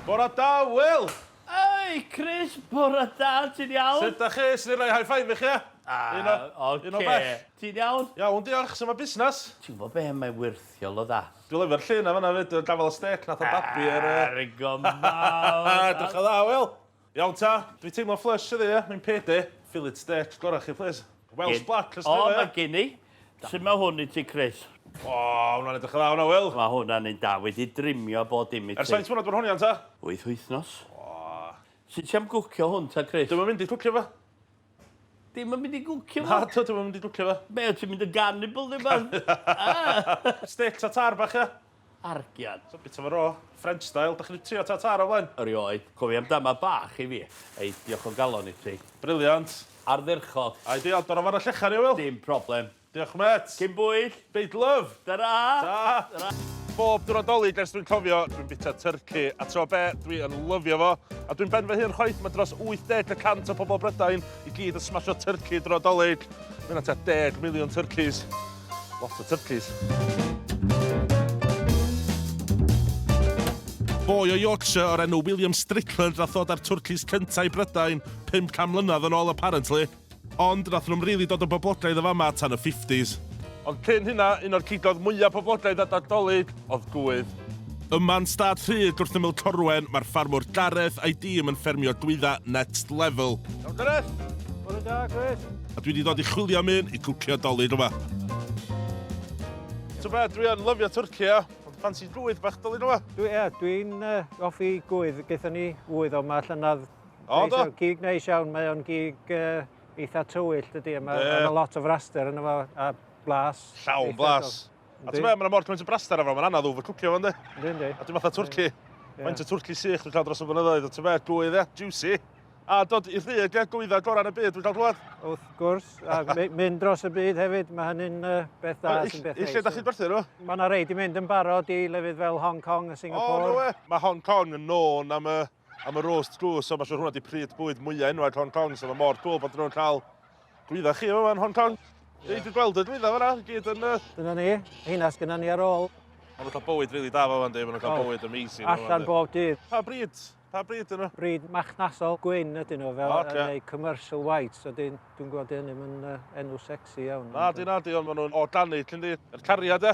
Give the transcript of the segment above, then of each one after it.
Bore da, Wil! Hei, Chris! Bore da, ti'n iawn? Sut da chi? Swn i'n rhoi high five i chi, ia? Un o... ocê. Un o bell. Ti'n iawn? Iawn, diolch. Sut mae busnes? Ti'n gwybod be, mae'n wyrthiol o dda. Dwi'n lyfio'r llun 'na fan'na 'fyd, y gafael y stêc nath o babi ar yy... Ar y gofal! Edrych yn dda, Wil! Iawn ta, dwi teimlo flush heddi ia, mae'n pede. Fillet steak gora chi plîs. Welsh black os gwelai ia? O ma gin i. Su ma hwn i ti Chris? O, hwnna'n edrych yn dda hwnna Wil. Ma hwnna'n un da, wedi drimio bob dim i ti. Ers faint mlynedd bod hon iawn ta? Wyth wythnos. O. Su ti am gwcio hwn ta Chris? Dwi'm yn mynd i cwcio fo. Dim yn mynd i gwcio fo? Nadw, dwi'm yn mynd i gwcio fo. Be, wyt ti'n mynd yn garnibl neu rwbath? Steak tartare bach ia? Argian. So bita fo raw, French style. Dach chi 'di trio tartare o flaen? Erioed. Cofia am dama bach i fi. Ei, diolch o galon i ti. Brilliant. Ardderchog. Ideal. Dod o fan y llechan i o Wil. Dim problem. Diolch mêt. Cyn bwyll. Byd love. Tara! Ta! Bob diwrnod Dolig ers dwi'n cofio, dwi'n bita tyrci, a tro be, dwi yn lyfio fo. A dwi'm ben fy hun chwaith, mae dros 80 y cant o pobl Brydain i gyd yn smasho tyrci dro Dolig. Mae hynna tua deg miliwn tyrcis. Lot o tyrcis. Boi o Yorkshire o'r enw William Strickland nath ddod â'r twrcis cynta i Brydain 500 mlynedd yn ôl apparently. Ond nathon nhw'm rili dod yn boblogaidd yn fama tan y fifties. Ond cyn hynna, un o'r cigoedd mwya poblogaidd a Nadolig oedd gwydd. Yma'n stad rhydd gwrthymyl Corwen, mae'r ffarmwr Gareth a'i dîm yn ffermio glwydda next level. Iawn Gareth! Bore da, Chris! A dwi 'di dod i chwilio am un i cwcio 'Dolig yma. T'o' be', dwi yn lyfio twrci ia, ond ffansi gwydd bach 'Dolig yma? Dwi, ia, dwi'n yy offi gwydd, gaethon ni ŵydd o 'ma llynedd O, do? Gig neis iawn, mae o'n gig uh, eitha tywyll, dydy, a mae yeah. lot o fraster yn efo, a blas. Llawn blas. A ti'n meddwl, mae'n mor cymaint o braster afro, mae'n anodd ŵfr cwcio fan di. Dwi'n di. A ti'n fatha twrci. Mae'n y twrci sych dwi'n cael dros y blynyddoedd, a ti'n meddwl, gwydd e, juicy. A dod i rhy, lle gwyddau gorau yn y byd, dwi'n cael glwad. Wrth gwrs, a mynd dros y byd hefyd, mae hynny'n uh, beth da sy'n beth neis. Lle da chi'n gwerthu nhw? Mae yna reid i mynd yn barod i lefydd fel Hong Kong a Singapore. O, no we. Mae Hong Kong yn nôn am y am y roast glws, so mae siwr hwnna di pryd bwyd mwyaf enwag Hong Kong, so mae mor cool bod nhw'n cael glwydda chi yma yn Hong Kong. Yeah. Dwi'n gweld y glwydda fyna, gyd yn... Dyna ni, heina sgynna ni ar ôl. Mae nhw'n cael bywyd rili da fan di, mae nhw'n cael oh. bywyd amazing. Allan bob dydd. Pa bryd? Pa bryd yno? Bryd machnasol gwyn ydyn nhw, fel okay. neu commercial white, so dwi'n gweld hynny yn uh, enw sexy iawn. Na, di, na, di, ond maen nhw'n organic, yndi. Yr cariad, e?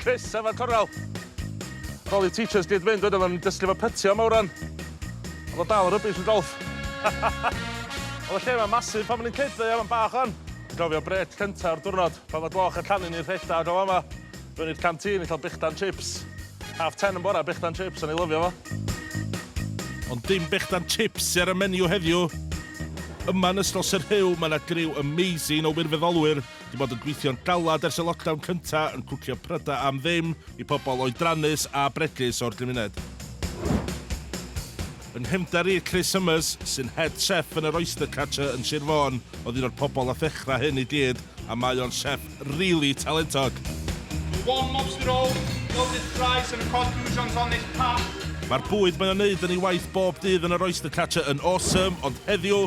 Chris efo'r cornel. Ar ôl i'r teachers gyd fynd wedyn oedden ni'n dysgu fo pytio am awran. O'dd o dal yn rubbish yn golff. O'dd y lle 'ma'n massive pan o'n i'n kid ddo ia? Ma'n bach wan. Dwi'n cofio brêc cynta'r diwrnod pan o'dd gloch y llanw'n un rhedag o fama. Fyny i'r canteen i ca'l brechdan chips. Half ten yn bora brechdan chips, o'n i'n lyfio fo. Ond dim brechdan chips sy ar y menu heddiw. Yma yn ysgol Sir Huw ma' 'na griw amazing o wirfyddolwyr Dwi bod yn gweithio'n galad ers y lockdown cynta yn cwcio pryda am ddim i pobl oedrannus a bregus o'r gymuned. Yn nghefndar i, Chris Summers, sy'n head chef yn yr Oyster Catcher yn Sir Fôn, oedd un o'r pobl a thechra hyn i gyd a mae o'n chef rili talentog. The warm lobster roll, gilded fries and cod goujons on this path. Mae'r bwyd mae o'n neud yn ei waith bob dydd yn yr Oyster Catcher yn awesome, ond heddiw,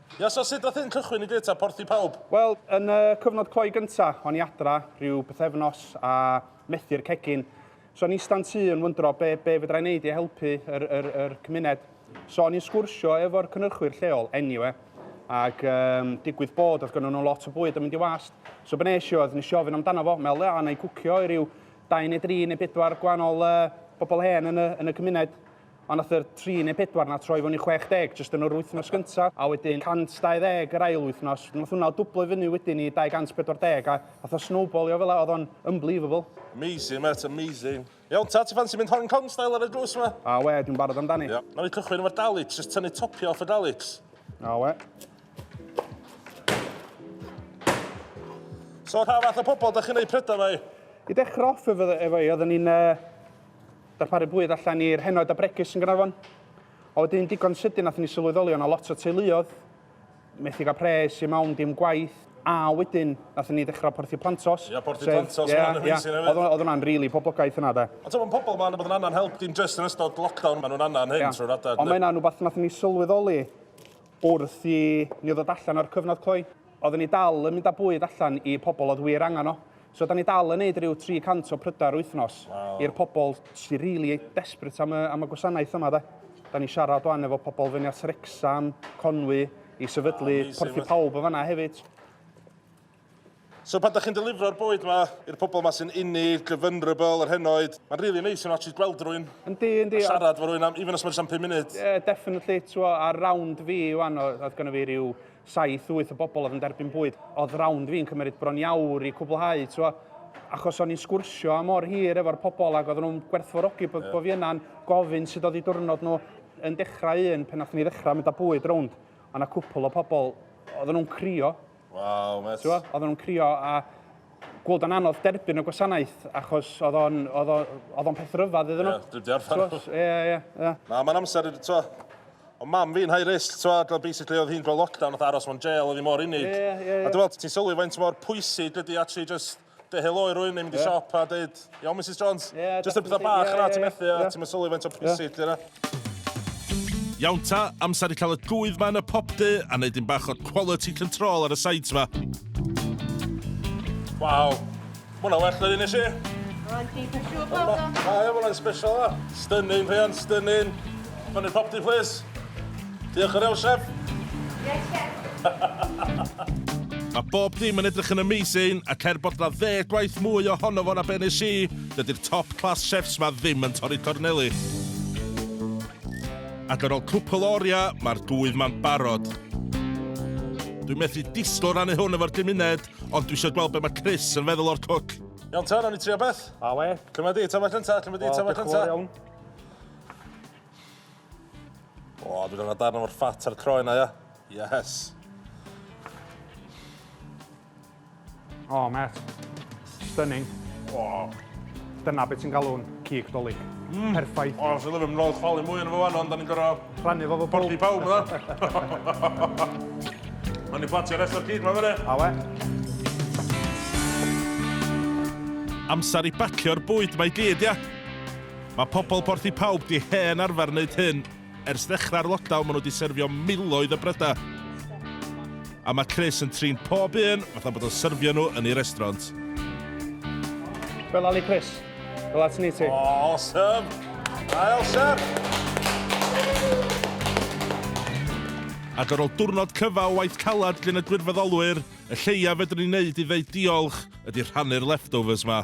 Ia, so sut nath hyn cychwyn i gyd ta porthi pawb? Wel, yn y cyfnod cloi gynta, o'n i adra rhyw bythefnos a methu'r cegin. So o'n i ista'n tŷ yn wyndro be, be fedra i wneud i helpu yr, yr, yr cymuned. So o'n i'n sgwrsio efo'r cynhyrchwyr lleol, anyway, ac um, digwydd bod oedd gynnu nhw lot o bwyd yn mynd i wast. So be nes i oedd, nes i ofyn amdano fo, meddwl, ia, na i gwcio i ryw dau neu dri neu bedwar gwahanol uh, bobl hen yn y, yn y cymuned. Ond nath yr tri neu pedwar 'na troi fyny 60 jyst yn yr wythnos gynta, a wedyn 120 yr ail wythnos. Nath hwnna dwblo i fyny wedyn i 240 a nath o snowbalio fela, o'dd o'n unbelievable. Amazing mêt, amazing. Iawn ta, ti ffansi mynd Hong Kong style ar y drws 'ma? A we, dwi'n barod amdani. Ia. Nawn ni cychwyn efo'r dalliks, jyst tynnu topio off y dalliks. A we. So rha fath o pobol 'dach chi'n neud pryda 'ma i? I dechra off efo efo i oedden ni'n yy Darparu bwyd allan i'r henoed a bregus yn Gaernarfon. A wedyn digon sydyn nathon ni sylweddoli o' 'na lot o teuluodd methu ga'l pres i mawn dim gwaith a wedyn nathon ni ddechra Porthi Plantos. Ia Porthi Plantos sef ia ia o'dd o'dd wnna'n rili poblogaidd hwnna 'de. Ond t'mo' ma' pobol ma' anabod yn angan help dim jyst yn ystod lockdown ma' nhw'n angan hyn trwy'r adag. Ond ma' hynna'n wbath nathon ni sylweddoli Wrth i ni ddod allan o'r cyfnod cloi, oedden ni dal yn mynd â bwyd allan i pobl oedd wir angen o. So da ni dal yn neud ryw 300 o prydau yr wythnos i'r pobl sy rili desperate am y am y gwasanaeth yma de. Da ni'n siarad wan efo pobl fyny at Wrecsam, Conwy, i sefydlu Porth i Pawb yn fan'na hefyd. So pan da chi'n delifro'r bwyd yma i'r pobl yma sy'n unig, y vulnerable, yr henoed, mae'n really amazing actually gweld rwy'n Yndi, yndi. A siarad fo rwy'n am, even os mae'n just am 5 munud. Ie, yeah, definitely. Twa, ar round fi, wan, oedd gynnu fi rhyw 7-8 o bobl oedd yn derbyn bwyd. Oedd round fi'n cymryd bron iawr i cwblhau, twa. Achos o'n i'n sgwrsio am o'r hir efo'r pobl ac oedden nhw'n gwerthfawrogi bod, yeah. bod fi yna'n gofyn sut oedd i diwrnod nhw yn dechrau un pen nath ni ddechrau mynd â bwyd rownd. Ond a cwpl o pobl, oedden nhw'n crio Waw, met. T'wo, oedden nhw'n crio a gweld o'n anodd derbyn y gwasanaeth, achos oedd o'n, oedd o'n, oedd o'n peth rhyfedd iddyn nhw. Ie, dwi'n deall fan nhw. Ie, ie, ie. Na, mae'n amser, t'wo, o mam fi'n high risk, t'wo, dwi'n basically oedd hi'n gweld lockdown, oedd aros mewn jail, oedd hi mor unig. Ie, ie, ie. A dwi'n meddwl, ti'n sylwi faint mor pwysig ydy actually just Dy helo i rwy'n mynd i siop a dweud, iawn Mrs Jones, jyst y pethau bach yna ti'n methu a ti'n mysylwi faint o pwysig di yna. Iawn ta, amser i cael y gwydd ma yn y pop du a wneud un bach o quality control ar y sides ma. Waw, ma hwnna well na un nes i. Rhaid i chi siŵr bod o. Mae hwnna'n special a. Stunning, Rhian, stunning. Fyny'r pop du, please. Diolch yr Euseb! Mae bob dim yn edrych yn amazing, ac er bod 'na ddeg gwaith mwy ohono fo na be nes i, dydi'r top class chefs 'ma ddim yn torri corneli. Ac ar ol cwpwl o oria, mae'r gŵydd 'ma'n barod. Dwi methu disgwyl rannu hwn efo'r gymuned, ond dwi isio gweld be mae Chris yn feddwl o'r cwc. Iawn ta, nawn ni trio beth? Awe. Cymra di, tafla cynta, cymra di, tafla cynta. Wel, diolch yn fawr iawn. O, dwi'n angen darn o'r ffat a'r croen na, ia? Yes. O, oh, met. Stunning. O. Oh. Dyna beth sy'n galw'n cig dolyg. Mm. Perffaith. O, oh, sy'n lyfio, mlaen chwalu mwy yn fo fan, ond da ni'n gorau... Rhannu fo fo bwrdd. Porti pawb, yna. Mae'n i platio rest o'r cig, mae'n fyny. A we. Amser i bacio'r bwyd mae gyd, ia? Mae pobl Porth y Pawb 'di hen arfer wneud hyn. Ers ddechrau'r lockdown maen nhw 'di syrfio miloedd o brydau. A mae Chris yn trin pob un fatha bod o'n syrfio nhw yn ei restraunt. Fel Ali Chris. Fel at ni ti. Awesome! Ail chef! Ac ar ôl diwrnod cyfa o waith caled gin y gwirfoddolwyr, y lleiaf fedrwn ni wneud i ddeud diolch ydy rhannu'r leftovers 'ma.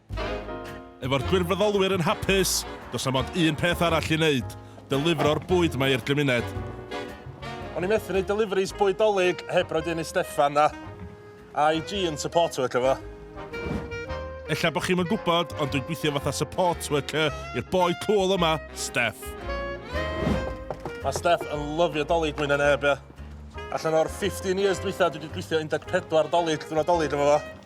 Efo'r gwirfoddolwyr yn hapus, does 'na mond un peth arall i wneud, delifro'r bwyd 'ma i'r gymuned. O'n i methu neud deliveries bwyd Dolig heb roid un i Steffan a IG yn support worker fo. Ella bo chi'm yn gwbod, ond dwi'n gwithio fatha support worker i'r boi cŵl yma, Steff. Mae Steff yn lyfio Dolig mwy na neb, ia. Allan o'r 15 years dwytha dwi wedi gwithio 14 Dolig, diwrnod Dolig efo fo.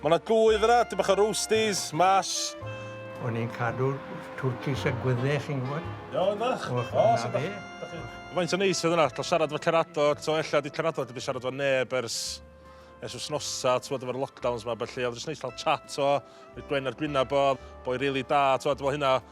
Mae 'na gwydd yna, dipyn bach o roasties, mash. O'n ni'n cadw twrcis a gwyddau, chi'n gwybod? Iawn, bach. O, o, so da. Faint o neis oedd yna, cael siarad efo Cerado, to ella di Cerado wedi siarad efo neb ers ers wythnosau, ti'n gwybod, efo'r lockdowns ma, felly oedd jyst neis cael chat o, rhoi gwên ar gwyneb o, boi rili da, ti'n gwybod, fel hynna.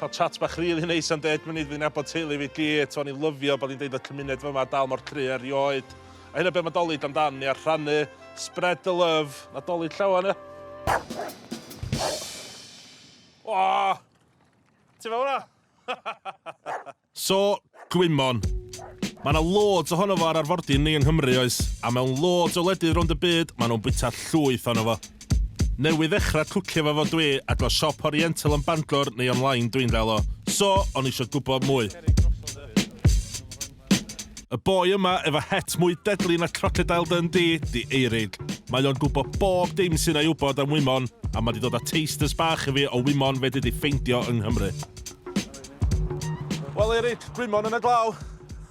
Cael chat bach rili neis am deg munud fi'n nabod teulu fi gyd, o'n i'n lyfio bod ni'n deud bod cymuned fyma dal mor cry erioed. A hynna be mae Dolig amdan ni, a rhannu, spread the love, na Dolig llawan ia. O! Ti fel hwnna? So, gwymon. Mae yna loads ohono fo ar arfordir ni yng Nghymru, oes? A mewn loads o wledydd rownd y byd, maen nhw'n bwyta llwyth ohono fo. Newydd ddechrau cwcio fo fo dwi, ac o siop Oriental yn Bangor neu online dwi'n gael o. So, o'n i isio gwybod mwy. Y boi yma efo het mwy deadly na Crocodile Dundee 'di Eirig. Mae o'n gwybod bob dim sy'n ei wybod am wymon, a mae 'di dod â tasters bach i fi o wymon fedri di ffeindio yng Nghymru. Wel Eric, Brumon yn y glaw.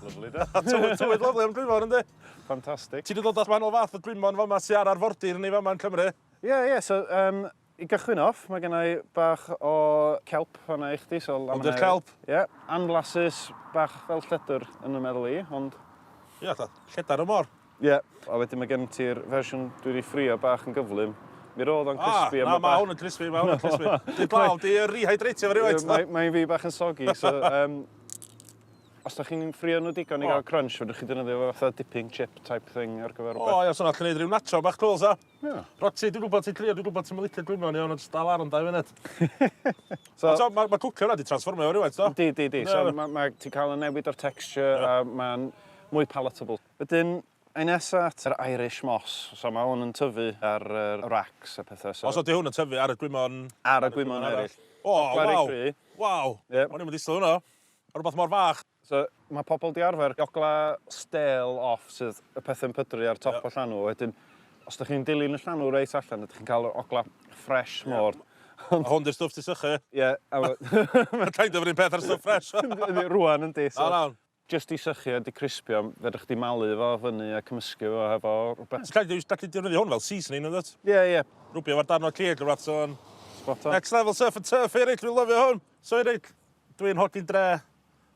Lyfli de. Tywydd, tywydd lyfli am Brumon yndi? Fantastic. Ti wedi dod at man o fath o Brumon fama ti ar arfordir ni fama yn Cymru? Ie, yeah, ie. Yeah, so, um, i gychwyn off, mae gen i bach o celp fanna i chdi. So, ond yr celp? Ie. Yeah, anflasus, bach fel lledr yn y meddwl i, ond... Ie, yeah, lledr y mor. Ie, a wedyn mae gen ti'r fersiwn dwi wedi ffrio bach yn gyflym. Mi roedd o'n crispy a... Ah, na, mae hwn yn crispy, mae hwn yn crispy. Dwi'n glaw, di uh, rehydratio fe rhywbeth. Mae'n mae fi bach yn sogi, so... Um, os da chi'n ffrio nhw digon i gael crunch, fydwch chi dynyddio fe fatha dipping chip type thing ar gyfer rhywbeth. O, ia, so na, chi'n neud rhyw nacho bach cool, sa? Ia. Roti, dwi'n gwybod ti'n crio, dwi'n gwybod ti'n mylicio gwymon iawn, ond dal ar yn dau funud. so, so, mae ma cwcio hwnna di transformio fe rhywbeth, do? Di, di, di. So, mae ma, ti'n cael y newid o'r texture, a mae'n mwy palatable. Wedyn, ai nesa at yr Irish Moss, so ma' hwn yn tyfu ar yr racks a petha so... Os ydi hwn yn tyfu ar y gwymon... Ar y gwymon eryll. O waw! Waw! Ie. O'n i'm yn disgwyl hwnna. A rwbath mor fach. So, ma' pobl 'di arfer gogla stêl off sydd y pethe'n pydru ar top y llanw, wedyn os dych chi'n dilyn y llanw reit allan ydych chi'n cael yr ogla ffresh mor... A hwn 'di'r stwff ti'n sychu? Ie. Mae'n kind of 'r un peth a'r stwff ffresh. Yndi, rŵan yndi so... Jyst i sychu a dicrispio, fedrwch chdi malu fo fyny a cymysgu fo hefo rwbeth. Ti'n gallu dewis, gallu defnyddio hwn fel seasoning yndwt? Ie ie. Rwbio fo'r darn o ceg rwbath so yn... Spot on. Next level surf and turf here Rich, dwi'n lyfio hwn! So Rich, dwi'n hogyn dre,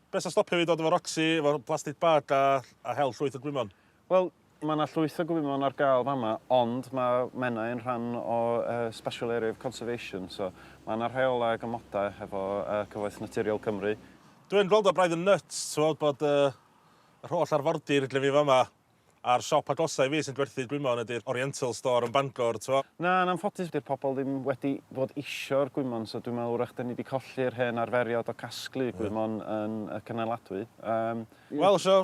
be' sy'n stopio fi dod efo Roxy, efo plastic bag a a hel llwyth o gwymon? Wel, mae 'na llwyth o gwymon ar gael fama, ond mae Menai yn rhan o Special Area of Conservation, so mae 'na rheolau ac amodau hefo Cyfoeth Naturiol Cymru. Dwi'n gweld o braidd yn nyts, t'mod, bod yr holl arfordir gyda fi fama, a'r siop agosa' i fi sy'n gwerthu gwymon ydi'r Oriental Store yn Bangor, t'mo'. Na, yn anffodus, 'di'r pobl ddim wedi bod isio'r gwymon, so dwi'n meddwl 'w'rach 'dan ni 'di colli'r hen arferiad o casglu gwymon yn y Cynneladwy. Wel, so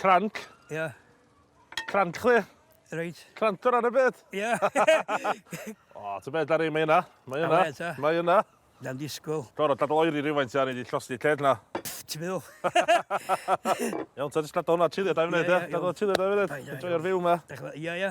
Cranc. Ie. Yeah. Cranc chdi. Reit. Crant ar y byd. Ie. o, ti'n beth ar ei, mae yna. Mae yna. Mae yna. Na'n disgwyl. Dor, o dadl oeri rhywfaint ar ei llosdi lled na. Ti'n meddwl? Iawn, ti'n disgwyl hwnna chilio da i wneud, ie? Dadl chilio da i wneud. Enjoy ar fyw yma. Ie, ie.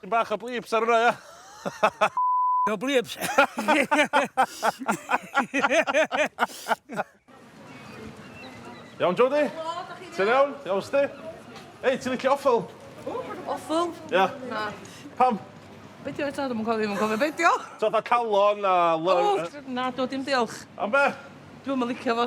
Dipyn bach o bleeps ar hwnna, ia? No bleeps. Iawn, Jodie? Ti'n iawn? Iawn, sti? Ei, ti'n licio offel? Offel? Ia. Na. Pam? Be di oed ta? Dwi'n cofio, dwi'n cofio beidio. So, dda calon a... O, na, do, dim diolch. Am be? Dwi'n mynd licio fo.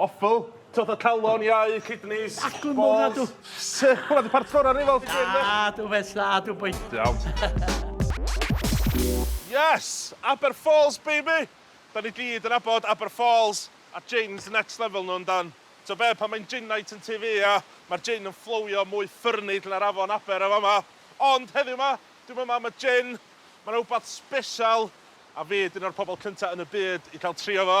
Offal, twll o calon, iau, kidneys, balls... Acw mowr na dw! Sych, hwnna di part gorau rifal ti gweud Da, dw fes dda, dw boi. Iawn. Yes! Aber Falls baby! Da ni gyd yn abod Aber Falls a jins next level nhw yndan? T'o be, pan mae'n jin night yn tŷ fi ia, mae'r jin yn fflowio mwy ffyrnig na'r afon Aber yn fama. Ond heddiw ma, dwi'm yma am y jin, ma' 'na wbath sbeshal a fi 'di un o'r pobol cynta yn y byd i cael trio fo.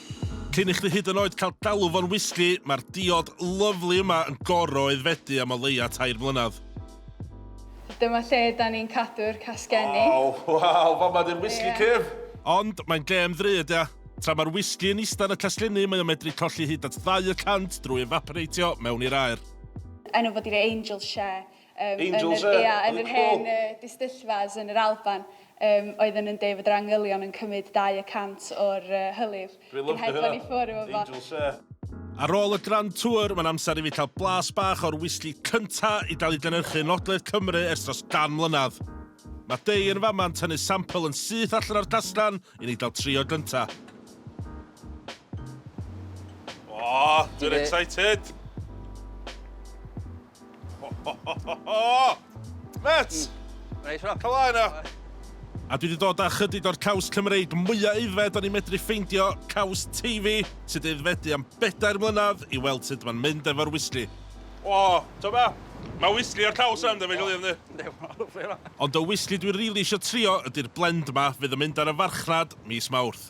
Cyn i chdi hyd yn oed cael galw fo'n wisgi, mae'r diod lyfli yma yn gor'o' aeddfedu am o leia' tair mlynadd. Dyma lle 'dan ni'n cadw'r casgenni. Waw, waw, fama 'di'r wisgi cyf! Ond, mae'n gêm ddrud, ia? Tra mae'r wisgi yn ista yn y casgenni mae o'n medru colli hyd at ddau y cant drwy efaporeitio mewn i'r aer. Enw fo 'di Angel Share. Angels yn y clo! Yn yr hen distyllfas yn yr Alban oedd yn Ndei fod yr angylion yn cymyd dau y cant o'r hylif. Dwi'n lyfio hynna! Angels yn. Ar ôl y Grand Tour, mae'n amser i fi cael blas bach o'r wisgi cynta i gael ei gynyrchu yn Ogledd Cymru ers dros gan mlynedd. Mae Dei yn fama yn tynnu sampl yn syth allan o'r casglan i ni gael trio gynta. O! Dwi'n excited! Met! Neis o. Cala yna. A dwi wedi dod â chydig o'r caws Cymreig mwyaf aeddfed o'n i'n medru ffeindio, caws Teifi, sydd wedi aeddfedu am bedair mlynedd, i weld sut mae'n mynd efo'r wisli. O, ti'n be? Mae wisli o'r caws yn dyfu glir yndi? Yndi, mae'n lyfli yna. Ond y wisli dwi rili eisiau trio ydi'r blend yma fydd yn mynd ar y farchnad mis Mawrth.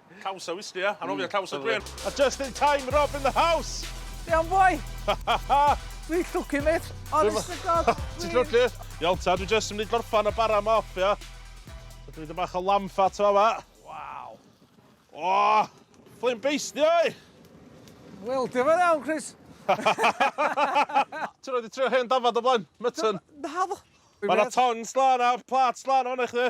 Caws a wisg ia? Anofio caws a gwên. A just in time, Rob in the house! Iawn boi! Dwi'n llwcu mate, honest to god. Ti'n llwcu? Iawn ta, dwi just yn mynd i gorffan y bara yma off ia. Dwi'n mynd i bach o lamb fat yma fa. Waw. O! Fflim beisdi oi! Wel, dim yn iawn, Chris. Ti'n rhaid i trio hen dafad o blaen, mytyn. Naddo. Mae yna ton slan a plat slan o'n eich dde.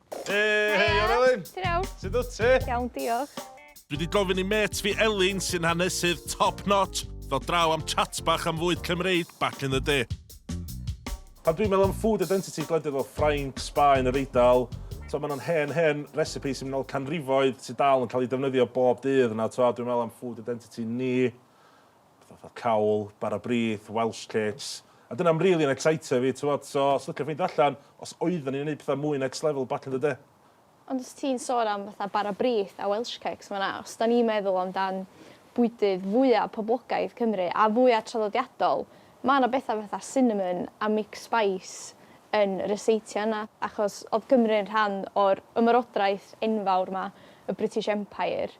Hei, hei, ar Elin! Ti'n iawn? Sut wyt ti? Iawn, diolch. Dwi wedi gofyn i met fi Elin, sy'n hanesydd top notch, ddod draw am chat bach am fwyd Cymreig back in the day. Pan dwi'n meddwl am food identity gwledydd fel Ffrainc, Sbaen, yr Eidal, so maen nhw'n hen, hen recipe sy'n mynd ôl canrifoedd sy'n dal yn cael ei defnyddio bob dydd yna. So, dwi'n meddwl am food identity ni. Fatha fatha cawl, bara brith, Welsh cakes. A dyna am rili yn ecsitio fi t'mod so os licio ffeindio allan os oeddan ni'n neud petha mwy next level back in the day. Ond os ti'n sôn am fatha bara brith a Welsh cakes ma' 'na os 'dan ni'n meddwl am dan bwydydd fwya poblogaidd Cymru a fwya traddodiadol ma' 'na betha fatha cinnamon a mixed spice yn ryseitio yna achos odd Cymru yn rhan o'r ymerodraeth enfawr 'ma y British Empire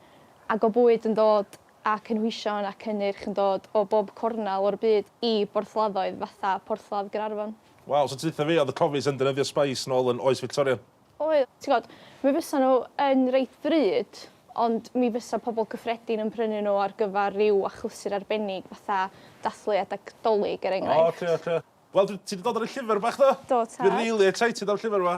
ag o bwyd yn dod a cynhwysion a cynnyrch yn dod o bob cornel o'r byd i borthladdoedd fatha Porthladd Gaernarfon. Waw, so tithe fi oedd y cofis yn defnyddio spice nôl yn oes Fictoria? Oedd, ti'n gwybod, mi fysa nhw yn reit ddrud, ond mi fysa pobl cyffredin yn prynu nhw ar gyfer rhyw achlysur arbennig fatha dathlu adeg 'Dolig er enghraifft. O, oce, oce. Wel, dwi, ti 'di dod ar y llyfr bach do? Do, tad. Dwi rili excited am llyfr 'ma.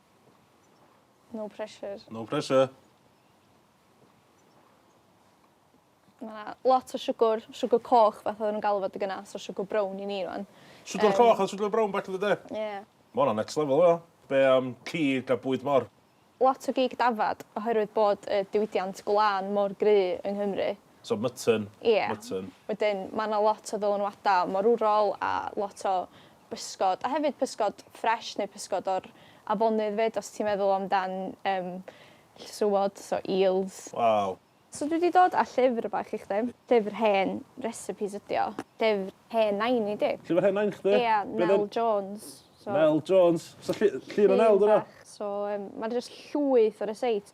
No pressure. No pressure. Mae yna lot o siwgr, siwgr coch fath oedden nhw'n galw fod y gyna, so siwgr brown i ni rwan. Siwgr um, coch a siwgr brown back in the day? Ie. Yeah. Mae hwnna next level yna. Be am um, cig a bwyd mor? Lot o gig dafad oherwydd bod y diwydiant gwlân mor gry yng Nghymru. So mutton. Ia. Mutton. Wedyn ma' 'na lot o ddylanwada morwrol a lot o bysgod a hefyd pysgod ffresh neu pysgod o'r afonydd 'fyd os ti'n meddwl amdan yym llysywod so eels. Waw. So dwi 'di dod â llyfr bach i chdi. Llyfr hen recipes ydi o. Llyfr hen nain i di. Llyfr hen nain chdi? Ia, Nel Jones, so... Nel Jones. So llu- llun o Nel 'di wnna? Llun bach. So yym ma' 'na jyst llwyth o ryseits.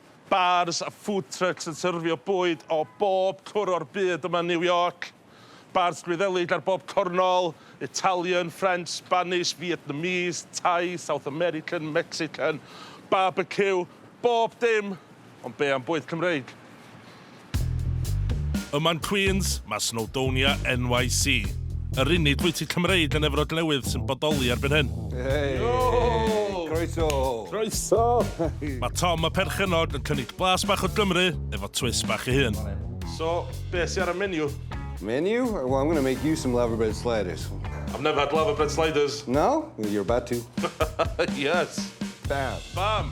Bars a food trucks yn syrfio bwyd o bob cwr o'r byd yma yn New York. Bars Gwyddelig ar bob cornol, Italian, French, Spanish, Vietnamese, Thai, South American, Mexican, barbecue, bob dim, ond be am bwyd Cymreig? Yma yn Queens, mae Snowdonia NYC, yr unig fwyty Cymreig yn Efrog Newydd sy'n bodoli erbyn hyn. Hey! Yo! Croeso! Croeso! Mae Tom y perchennog yn cynnig blas bach o Gymru efo twist bach ei hun. So, be sy ar y menu? Menu? Well, I'm going to make you some laverbread sliders. I've never had laverbread sliders. No? Well, you're about to. Yes! Bam! Bam!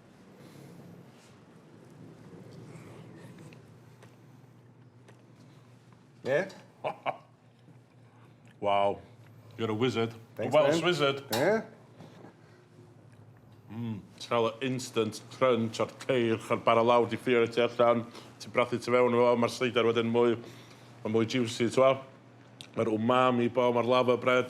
Yeah? wow. You're a wizard. Thanks, a Welsh man. wizard. Yeah? Mm, Trael o instant crunch o'r ceir, o'r bara lawr di ffio ti allan, ti'n brathu ti fewn o, mae'r sleidar wedyn mwy, mae mwy juicy, ti'n Mae'r umami bo, mae'r lava bread.